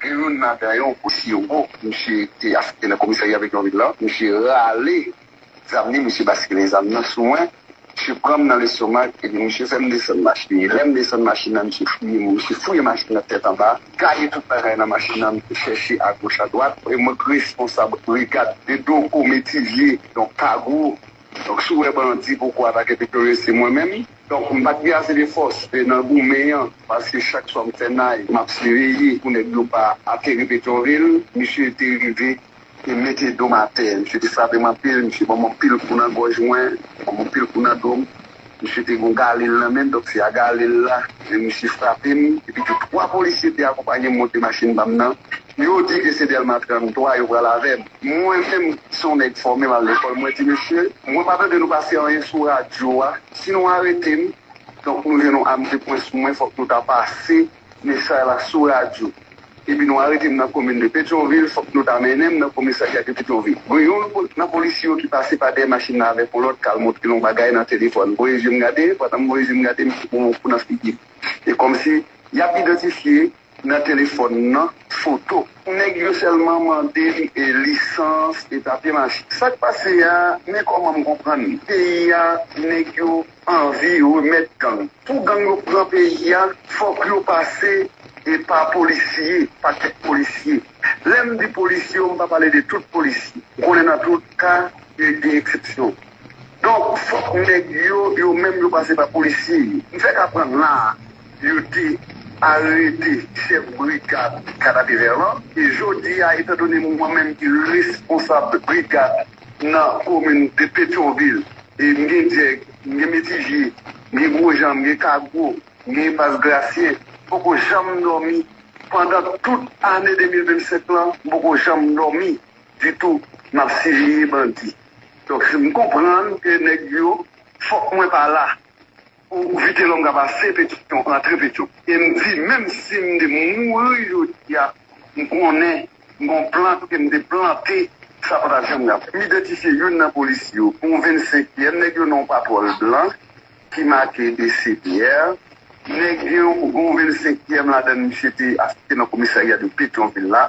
Gen youn ladan yo, yon polisye wo, misye te afekte nan komisarya Petyonvil lan, misye rale zam li, misye baskile zam nan sou mwen, misye pran m nan lestomak epi misye fè m desann machin li. Lè m desann machin nan, misye fouye m, misye fouye machin nan tèt anba, gaye tout bagay nan machin nan, misye chèche agoch adwat. E mwen k responsab brigad de Dogo Metivye, donk Kago. Donk si w wè bandi poko atake Petyonvil se mwen menm. Donk m pat gen ase de fòs nan goumen an paske chak swa m fè nay map siveye pou nèg yo pa ateri Petyonvil. Misye te rive te mete do m atè, misye te frape m anpil, misye ban m anpil kou nan gòj mwen, ban m anpil kou nan do m. Misye te gen yon galil nan men l, donk se a galil la misye frape m. Epitou 3 polisye te akonpanye m monte machin pa m nan. Yo di ke se Delma 33 yo pral avèm. Mwen menm ki son nèg fòme mal lekòl mwen di mesye mwen pa tande nou pase anyen sou radyo a si nou aretem donk nou jwenn yon am de pwen sou mwen fòk nou ta pase mesay la sou radyo epi nou aretem nan komin de petyonvil fòk nou ta mennenm nan komisarya de petyonvil gen yon nan polisye yo ki pase pa dèyè machin nan avèk yon lòt kal montrel yon bagay nan telefòn voye jem gade pandan m voye jem gade misye pranm yon kou nan figim e kòmsi yap idantifye Nan telefòn nan foto. Neg yo selman mande lisans e papye machine sak pase a men komanm konprann peyi a neg yo anvi remet gang pou gang yo pran peyi a fok yo pase epa polisye pa kek polisye lem di polisye yo mpa pale de tout polisye ou konnen nan tout ka gen exception donk fok neg yo yo menm yo pase pa polisye yo mfek aprann la a. Yo te arete chèf brigad Canapé-Vert lan e jodi a etan done mwen menm ki responsab brigad nan komin de Petyonvil e m gen Dyèg, m gen Metivye, m gen Gwojan, m gen Kagwo, m gen Enpas Grasyen, m poko janm dòmi pandan tout ane 2025 lan, m poko janm dòmi ditou m ap siveye bandi. Donk m konprann ke nèg yo fòk mwen pa la. Pou Vitelòm ka pase petisyon antre petyon. E m di menm si m te mouri jodi a m konnen gon plant ke m te plante sa pa ta janm rap. M idantifye youn nan polisye yo pou yon 25 yèm nèg yo nan yon patwòl blan ki make DCPR. Nèg gen yon 25 yèm ladan l misye te afekte nan komisarya de petyonvil la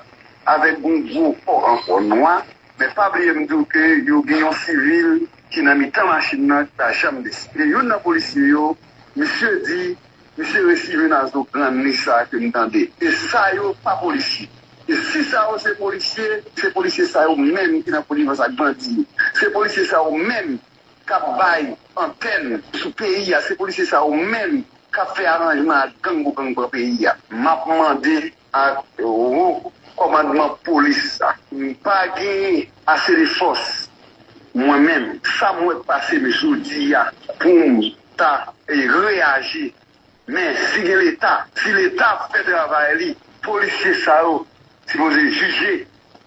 avèk yon gwo kò ankò nwa. Men pa bliye m di w ke yo gen yon sivil. ki nan mitan machin nan ki pa janm desann. Gen youn nan polisye yo, misye di, misye resi jwenn a zo grann li sa ke m tande. E sa yo pa polisye. E si sa yo se polisye, se polisye sa yo menm ki nan konivans ak bandi yo. Se polisye sa yo menm k ap bay antèn sou peyi a. Se polisye sa yo menm k ap fè aranjman ak gang pou gang pran peyi a. M ap mande ak wo kòmandman polis la. M pa genyen ase de fòs mwen menm. Sa m wè k pase m jodi a pou m ta reyaji. Men si gen leta, si leta ap fè travay li, polisye sa yo sipoze jije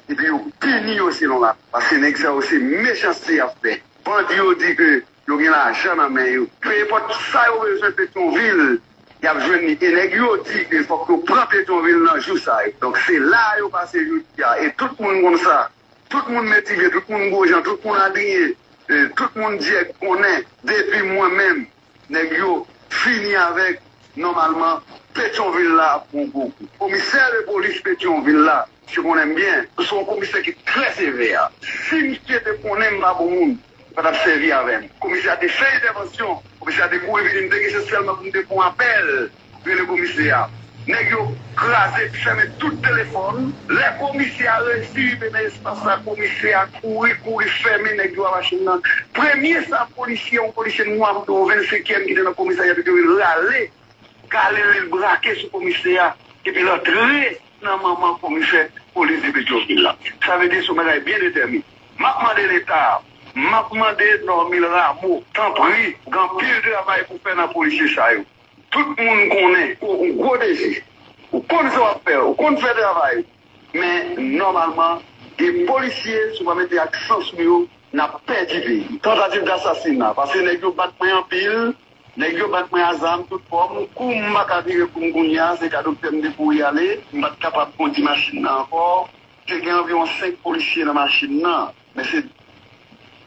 epi yo pini yo selon la. Paske nèg sa yo se mechanste y ap fè. Bandi yo di ke Yo gen lajan nan men yo. Peu importe sa yo bezwen Petyonvil yap jwenn li e nèg yo di ke fòk yo pran Petyonvil nan jou sa yo. Donk se la a yo pase jodi a e tout moun konn sa. Tout moun Metivye, tout moun Gwojan, tout moun Adrien, tout moun Dyèg konnen depi mwen menm nèg yo fini avèk nòmalman Petyonvil la ap pran gwo kou. Komisè lepolis Petyonvil la Misye konnen m byen. M se yon komisè ki trè sevè. Si misye te konnen m pa bon moun, li pa t ap sèvi avè m. Komisè a te fè entèvansyon. Komisè a te kouri vini. M te gen chans sèlman pou m te pran apèl, rele komisè a. Nèg yo kraze epi fèmen tout telefòn. Lè komisè a resi rive nan espas la, komisè a kouri, kouri fèmen nèg yo a machin nan. Premye sa polisye, yon polisye nwa m te yon vennsenkyèm ki te nan komisarya te dwe rale Kale li l brake sou komisè a epi l antre nan manman komisè polis de Petyonvil la. Sa vle di s on bagay byen detèmine. M ap mande Leta, m ap mande Normil Rameau, tanpri, gen anpil travay pou fè nan polisye sa yo. Tout moun konnen ou gwo dezi, ou konn sa w ap fè, ou konn fè travay ou. Men, nòmalman, gen polisye, si w pa mete aksan sou yo, n ap pèdi peyi. Tantativ dasasina, pase nèg yo bat mwen anpil. Nèg yo bat mwen a zam tout fòm, kou m pa ka vire kou m kounye a, se kado k fè m te kouri ale, m pa t kapab kondi machin nan ankò, te gen anviwon 5 polisye nan machin nan, men se.